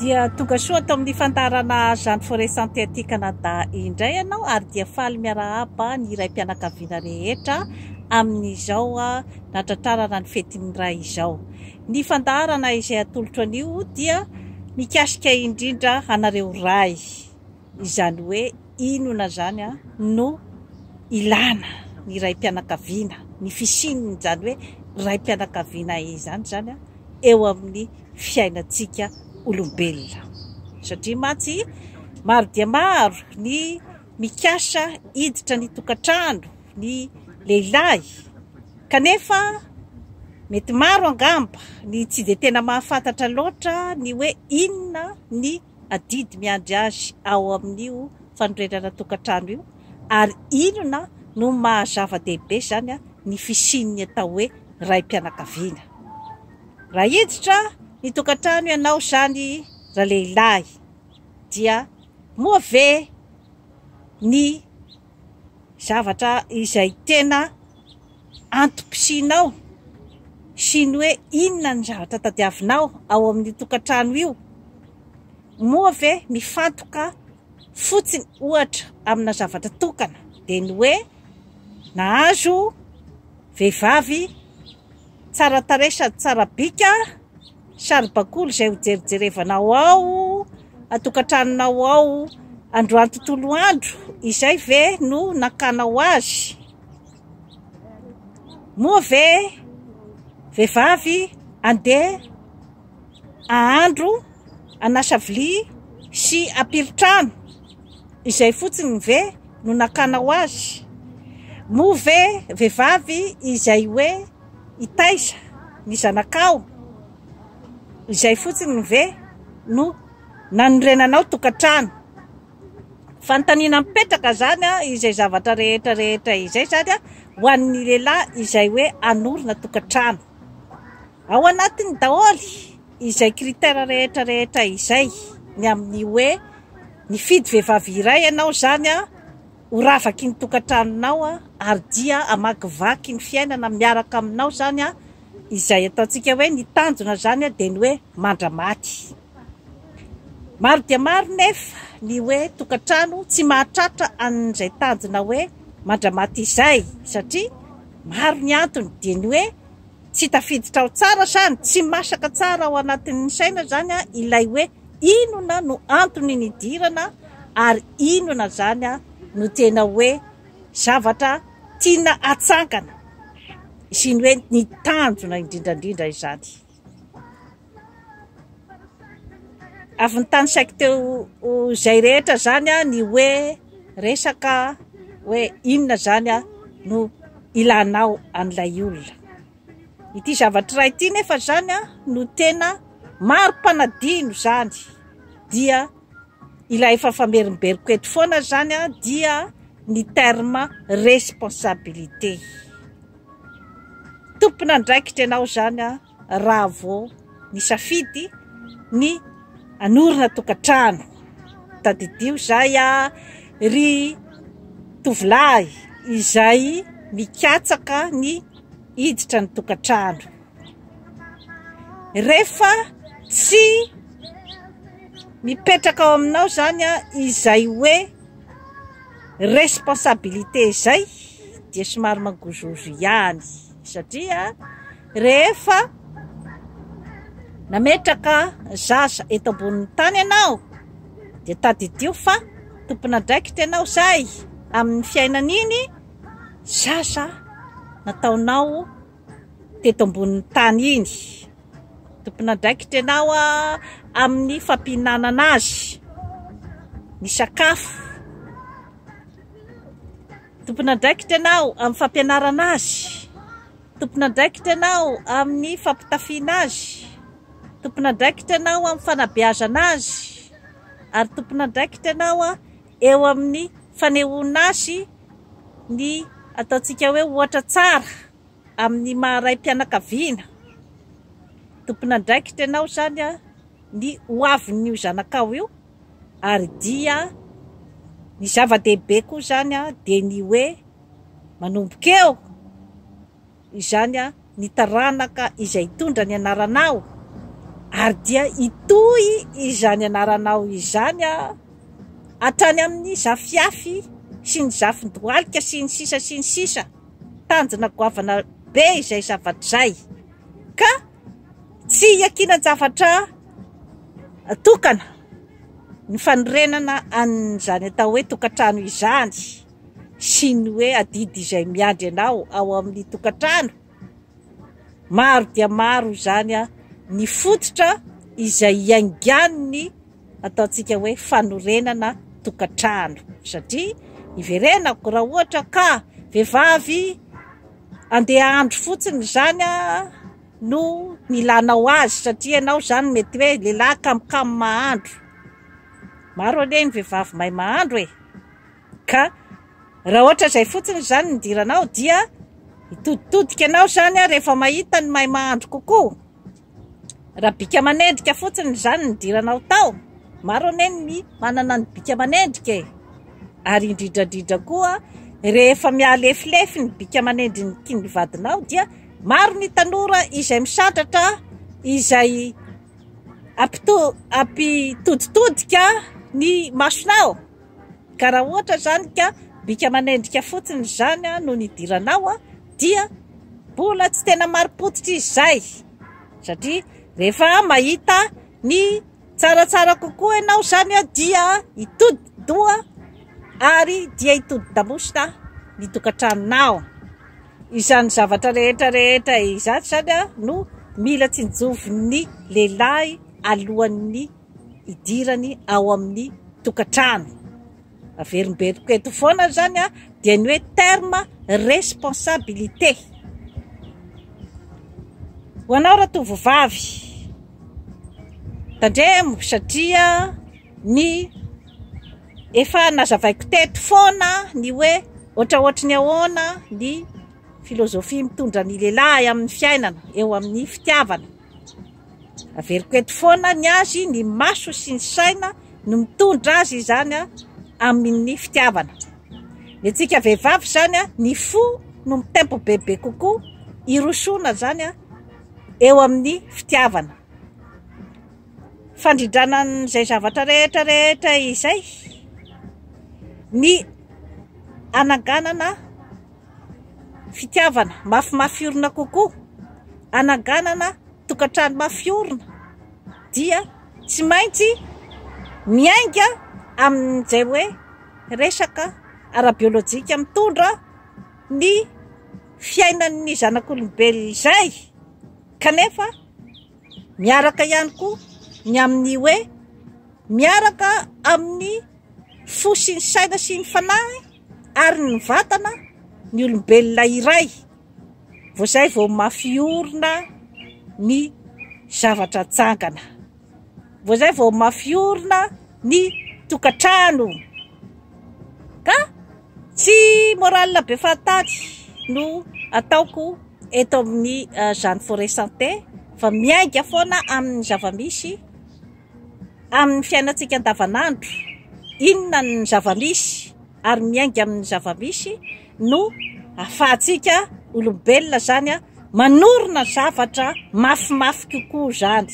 Dia tonga soa ato amin'ny fandaharana Jean de Forêt Santeaty Canada indray ianao ary dia faly miarahaba ny raim-pianakaviana rehetra amin'izao nahatratrarana ny fetin'ny Ray izao. Ny fandaharana izay atolotro anio dia mikasika indrindra anareo Ray. Izany hoe inona izany no ilana ny raim-pianakaviana, ny fisian'izany hoe raim-pianakaviana izany izany eo amin'ny fiainantsika olombelona. Satria mantsy maro dia maro ny mikasa hiditra ny tokantrano ny lehilahy, kanefa mety maro angamba ny tsy dia tena mahafantatra loatra ny hoe inona ny adidy miandry azy ao amin'io fanorenana tokantrano io ary inona no maha zava-dehibe izany ny fisian'ny atao hoe raim-pianakaviana. Raha hiditra ny tokantrano ianao izany ralehilahy dia moa ve ny zavatra izay tena antom-pisianao sy ny hoe inona ny zavatra tadiavinao ao amin'io tokantrano io? Moa ve mifantoka fotsiny ohatra amina zavatra tokana dia ny hoe nahazo vehivavy tsara tarehy sady tsara bika, saribakoly izay ho jerijerevanao ao an-tokantranonao ao androany tontolo andro izay ve no nakanao azy? Moa ve vehivavy andeha ahandro, anasa vilia sy apily trano? Izay fotsiny ve no nakana ho azy? Moa ve vehivavy izay hoe hitaiza ny zanakao? Izay fotsiny ve no nanorenanao tokantrano? Fanontaniana mipetraka izany izay zavatra rehetra rehetra izay izany ho an'ny lehilahy izay hoe hanorina tokantrano. Ao anatiny daholo izay critère rehetra rehetra izay ny amin'ny hoe nifidy vehivavy iray ianao izany ho ravaky ny tokantranonao ary dia hamakivaky ny fiainana miaraka aminao izany izay ataontsika hoe ny tanjona izany dia ny hoe mandra-maty. Maro dia maro nefa ny hoe tokantrano tsy mahatratra an'izay tanjona hoe mandra-maty izay satria maro ny antony dia ny hoe tsy tafiditra ao tsara sa ny tsy masaka tsara ao anatin'ny saina izany ilay hoe inona no antony nidirana ary inona izany no tena hoe zavatra tiana atsangana sy ny hoe ny tanjona indrindrandrindra izany. Avy nitany saiko teo izay rehetra izany ny hoe resaka hoe inona izany no ilanao an'ilay olona. Ity zavatra iray ity nefa izany no tena mari-panadino izany dia ilay efa famerimberiko eto foana izany dia ny terme responsabilité. Tompon'andraikitra ianao izany raha vao nisafidy ny hanorina tokantrano. Tadidio izay ry tovolahy izay mikatsaka ny hiditra ny tokantrano. rehefa tsy mipetraka ao aminao zany an izay hoe responsabilité izay dia somary mangozohozo ihany satria rehefa nametraka zaza eto ambonin'ny tany ianao dia tadidio fa tompon'andraikitra ianao izay amin'ny fiainan'iny zaza nataonao teto ambonin'ny tany iny. Tompon'andraikitra ianao amin'ny fampihinanana azy ny sakafo. Tompon'andraikitra ianao amin'ny fampianarana azy. Tompon'andraikitra ianao amin'ny fampitafiana azy. Tompon'andraikitra ianao amin'ny fanabeazana azy ary tompon'andraikitra ianao eo amin'ny fanehoana azy ny ataontsika hoe ohatra tsara amin'ny maha raim-pianakaviana. Tompon'andraikitra ianao izany ny ho avin'io zanakao io ary dia ny zava-dehibe koa izany dia ny hoe manomboka eo izany ny taranaka izay hitondra ny anaranao, ary dia hitohy izany anaranao izany hatrany amin'ny zafiafy sy ny zafin-dohalika sy ny sisa sy ny sisa, tanjona goavana be izay zavatra izay, ka tsy iakinan-javatra tokana ny fanorenana an'izany atao hoe tokantrano izany. sy ny hoe adidy izay miandry anao ao amin'ny tokantrano. Maro dia maro izany ny fototra izay iaingan'ny ataontsika hoe fanorenana tokantrano satria iverenako raha ohatra ka vehivavy andeha andro fotsiny izany no nilanao azy satria ianao izany mety hoe lehilahy kamokamo mahandro. Maro anie ny vehivavy mahay mahandro e! Ka raha ohatra izay fotsiny ry zany no nidiranao dia hitoditodika anao izany rehefa mahita ny mahay mahandro kokoa. Raha bika manendrika fotsiny ry zany no nidiranao tao, maro anie ny manana ny bika manendrika e! Ary indrindra indrindra koa rehefa mihalefilefy ny bika manendriky ny vadinao dia maro ny tanora izay misandratra izay ampito- ampitoditodika ny masonao. Ka raha ohatra izany ka bika manendrika fotsiny izany no nidiranao dia mbola tsy tena marim-pototra izy izay. Satria rehefa mahita ny tsaratsara kokoa ianao izany dia hitodi-doha ary dia hitodi-damosina ny tokantranonao. Izany zavatra rehetra rehetra izany izany no mila tsinjovin'ny lehilahy alohan'ny hidirany ao amin'ny tokantrano. Averimberiko eto foana izany a, dia ny hoe terme responsabilité. Ho anao ratovovavy, tandremo satria ny efa nazavaiko teto foana ny hoe ohatraohatry ny ahoana ny filozofia mitondra ny lehilahy amin'ny fiainana eo amin'ny fitiavana. Averiko eto foana ny azy, ny maso sy ny saina no mitondra azy izany amin'ny fitiavana. Ny antsika vehivavy izany, ny fo no mitempo bebe kokoa hirosoana izany eo amin'ny fitiavana. Fandrindrana an'izay zavatra rehetra rehetra izay ny hananganana. Fitiavana mafimafy orina kokoa, hananganana tokantrano mafy orina dia tsy maintsy miainga amin'izay hoe resaka ara-biolojika mitondra ny fiainan'ny zanak'olombelona izay, kanefa miaraka ihany koa ny amin'ny hoe miaraka amin'ny fo sy ny saina sy ny fanahy. ary ny vatana ny olombelona iray vao izay vao mafy orina ny zavatra jangana vao izay vao mafy orina ny tokantrano ka tsy morale be fahataty no ataoko eto amin'ny zany forêt santé fa miainga foana amin'ny zava-misy Amin'ny fiainantsika andavanandro, inona ny zava-misy ary miainga amin'ny zava-misy no ahafahantsika olombelona izany manorina zavatra mafimafy kokoa izany,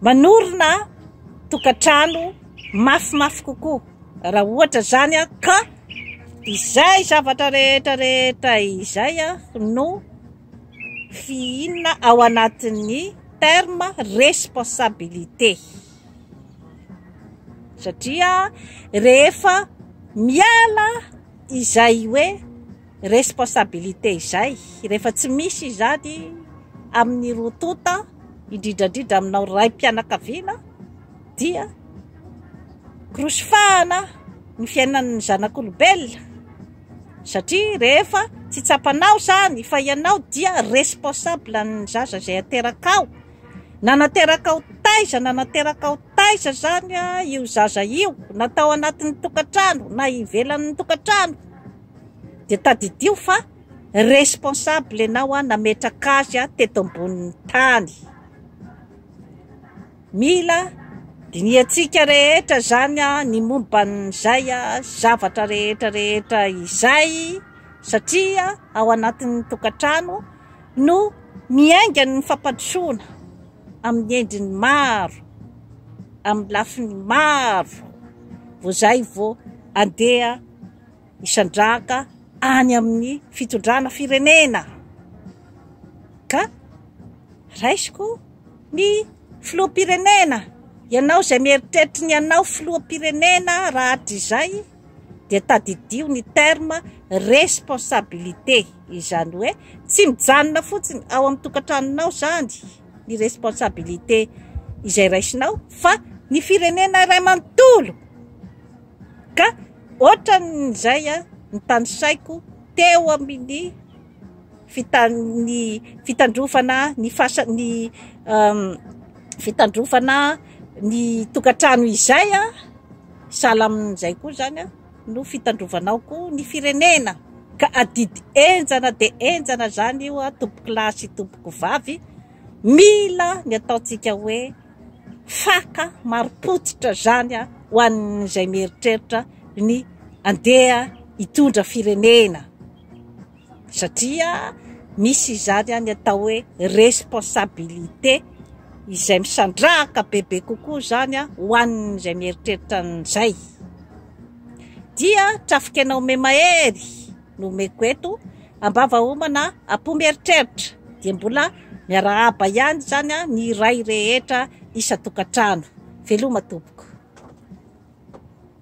manorina tokantrano mafimafy kokoa raha ohatra izany ka izay zavatra rehetra rehetra izay no. Fihinana ao anatin'ny terme responsabilité satria rehefa miala izay hoe responsabilité izay, rehefa tsy misy izany amin'ny roa tonta, indrindra indrindra aminao raim-pianakaviana dia krosifahana ny fiainan'ny zanak'olombelona. Satria rehefa tsy tsapanao izany fa ianao dia responsable ny zaza izay aterakao, na naterakao taiza na naterakao taiza izany io zaza io, na tao anatin'ny tokantrano na ivelan'ny tokantrano, dia tadidio fa responsable ianao nametraka azy teto ambonin'ny tany. Mila dinihantsika rehetra izany ny momba an'izay zavatra rehetra rehetra izay satria ao anatin'ny tokantrano no miainga ny fampandrosoana amin'ny endriny maro, amin'ny lafiny maro vao izay vao andeha hisandrahaka any amin'ny fitondrana firenena ka raisiko. Ny Filoham-pirenena, ianao izay mieritreritry ny hanao Filoham-pirenena rahatrizay dia tadidio ny terme responsabilité, izany hoe tsy mijanona fotsiny ao amin'ny tokantranonao izany ny responsabilité izay raisinao fa ny firenena iray manontolo ka ohatran'izay ny tanisaiko teo amin'ny ny fitandrovana ny fasa ny fitandrovana ny tokantrano izay a sahala amin'izay koa izany a no fitandrovanao koa ny firenena ka adidy henjana dia henjana izany io a tompoko lahy sy tompoko vavy mila ny ataontsika hoe faka marim-pototra izany a ho an'izay mieritreritra ny andeha hitondra firenena satria misy izany any atao hoe responsabilité izay misandrahaka bebe kokoa izany a ho an'izay mieritreritra an'izay dia trafikenao memahery no omeko eto ambava homana apo mieritreritra dia mbola miarahaba ihany izany a ny iray rehetra isan-tokantrano veloma tompoko